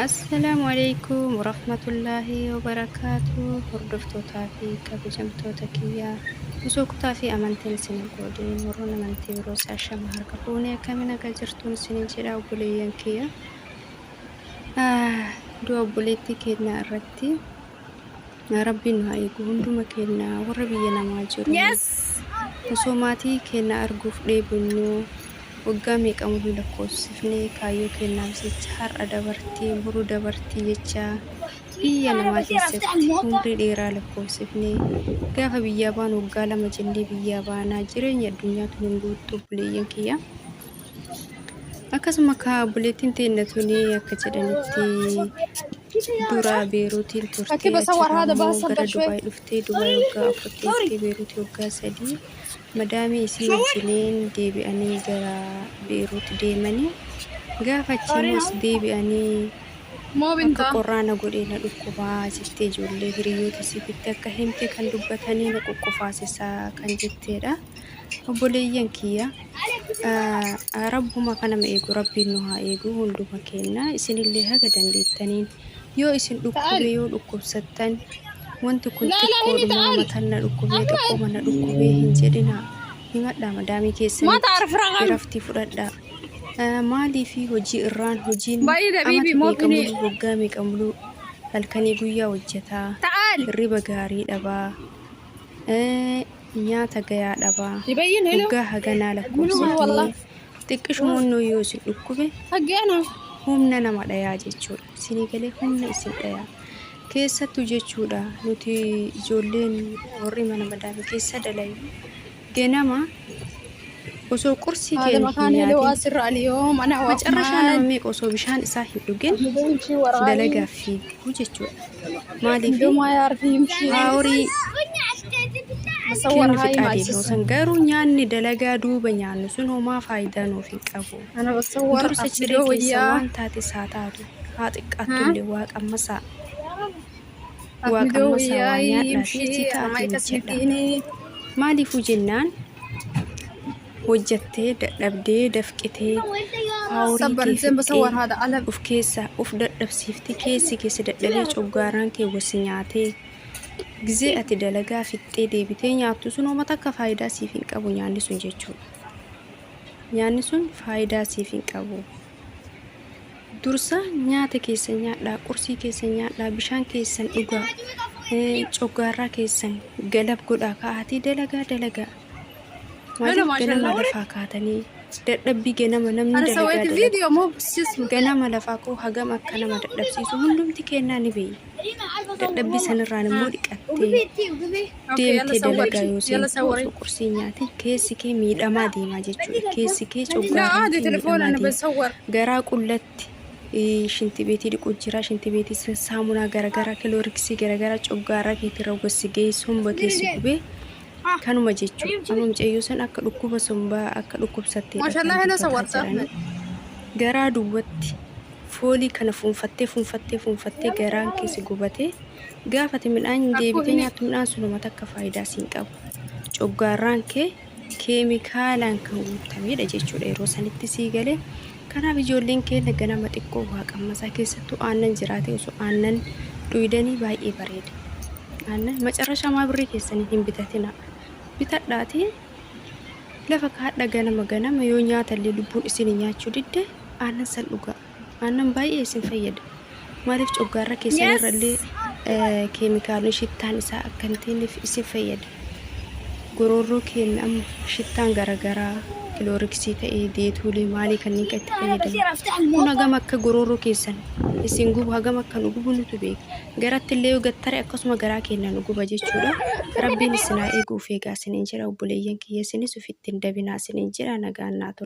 Assalaamu alaikum warahmatullaahi wabarakaatu hordoftootaa fi kabajamtoota kiyyaa osoo kutaa fi amantiin isin hin qoodiin warroon amantii biroos ashama harka fuunee akkami nagaa jirtuun isiniin jedha obboleeyyan kiyya Ah, du'a obboleettii keenyaa irratti Rabbiin nu haa eegu hunduma keenya warra biyya namaa jiru. Osoo maatii keenya arguuf dheebonnu waggaa meeqamu hin lakkoofsifne kaayyoo keenyaaf jecha har'a dabartii boru dabartii jecha biyya namaa keessatti umrii dheeraa lakkoofsifne gaafa biyyaa baanu waggaa lama jennee biyyaa baanaa jireenya addunyaa tun hin guuttu obboleeyyan kiyya. Akkasuma kaa obboleettiin teenna tuni akka jedhanitti Dura Beeruutiin turtee Rakiba achi sawar hada ammoo bahasa gara bashwe. Dubaay dhuftee Dubaay waggaa afur teessee Beeruuti waggaa sadii madaamii isii wajjiniin deebi'anii gara Beeruut deemanii gaafa achi immoo as deebi'anii Mo akka binta. qorraana godhee na dhukkubaa jettee ijoollee hiriyoota isiititti akka himte kan dubbatanii na quqqufaasisaa kan jetteedha. obboleeyyan kiyya rabbuma kanama eegu rabbiin nu haa eegu hunduma keenna isinillee haga dandeettaniin yoo isin dhukkube yoo dhukkubsattan wanti kun xiqqoodhuma matanna dhukkubee xiqqooma na dhukkubee hin jedhina himadhaa madaamii keessanitti iraftii fudhadhaa maalii fi hojii irraan hojiin amata meeqa muluu waggaa meeqa muluu halkanii guyyaa hojjetaa hirriba gaarii dhabaa nyaata gayaa dhabaa hoggaa haganaa lakkoofsifnee xiqqishumoon nuu yoo isin dhukkube humna nama dhayaa jechuudha isinii galee humna isin dhayaa keessattu jechuudha nuti ijoolleen warri mana madaami keessa dalayu ganama osoo qursii kee Adam hin Akaan heloo nyaatin asirra aliyoo mana ho'af macarrashaan maal. nama meeqa osoo bishaan isaa hin dhugin Hidhoo ishii waraabee. dalagaaf fiigu jechuudha maaliif Hidhoo maayaa arfii himshii. haa horii Masawwar kennu haa fixaa deema imaalchisu. san garuu nyaanni dalagaa duuba nyaannu sun homaa faayidaa nuuf hin qabu Ana masawwar dursa ciree afidoo keessa wayyaa. waan taates haa taatu haa xiqqaattullee waaqa ammasaa Waaqamma isaa waa nyaadhaatii itti taa'atii hojjedha. Maaliifuu jennaan hojjattee dadhabdee dafqitee haawurii kee fixxee of keessaa of dadhabsiiftee keessi kee si dadhabee coggaaraan kee wasi nyaatee gizee ati dalagaa fixxee deebitee nyaattu sun homa takka faayidaa siif hin qabu nyaanni sun jechuudha. Nyaanni sun faayidaa siif hin qabu. Dursa nyaata keessan nyaadhaa, qursii keessan nyaadhaa, bishaan keessan dhugaa, coggaarraa keessan galab godhaa ka'aatii dalagaa dalagaa. Maaliif ganama lafaa kaatanii dadhabbii ganama namni dalagaa dalagaa. Ganama lafaa koo hagam akka nama dadhabsiisu hundumti kennaa ni beekna. Dadhabbii sanirraan immoo dhiqattee. deemtee dalagaa yoo seentu osoo qursii nyaate keessi kee miidhamaa deemaa jechuudha. Keessi kee coggaaraan kee miidhamaa deema. Garaa qullatti eh, shinti beetii dhiquu jira, shinti beetii san saamunaa garaagaraa, kilooriksii garaagaraa coggaaraa keetirra gossi ga'ee somba keessi gubee kanuma jechuudha. Amma mucayyoo san akka dhukkuba sombaa akka dhukkubsattee garaa duwwatti foolii kana fuunfattee fuunfattee fuunfattee garaan keessi gubatee Gaafa ati midhaan deebitee nyaattu midhaan sun homa takka faayidaa siin qabu. Coggaarraan kee keemikaalaan kan guuttameedha jechuudha yeroo sanitti sii galee. Kanaaf ijoolleen keenya ganama xiqqoo waa qammasaa keessattuu aannan jiraatee osoo aannan dhuydanii baay'ee bareeda. Aannan macarrashaa maa birrii keessaniin hin bitatina. Bitadhaatii lafa kaadha ganama ganama yoo nyaatallee lubbuun isin nyaachuu didde aannan san dhugaa. Aannan baay'ee isin fayyada. Maaliif coggaarra keessan irrallee eh, keemikaalonni shittaan isaa akka hin teenyeef isin fayyada. Goroorroo keenya amma shittaan garaagaraa kilooriksii ta'ee deetuulee maalii kanneen kan itti fayyadamu. Kun hagam akka goroorroo keessan isin gubu hagam akka nu gubu nutu beeka. Garatti illee yoo gattare akkasuma garaa keenya nu guba jechuudha. Rabbiin isin haa eegu of eegaa isiniin jedha obboleeyyan kiyya isinis ofitti hin dabinaa isiniin jedha nagaan naa tura.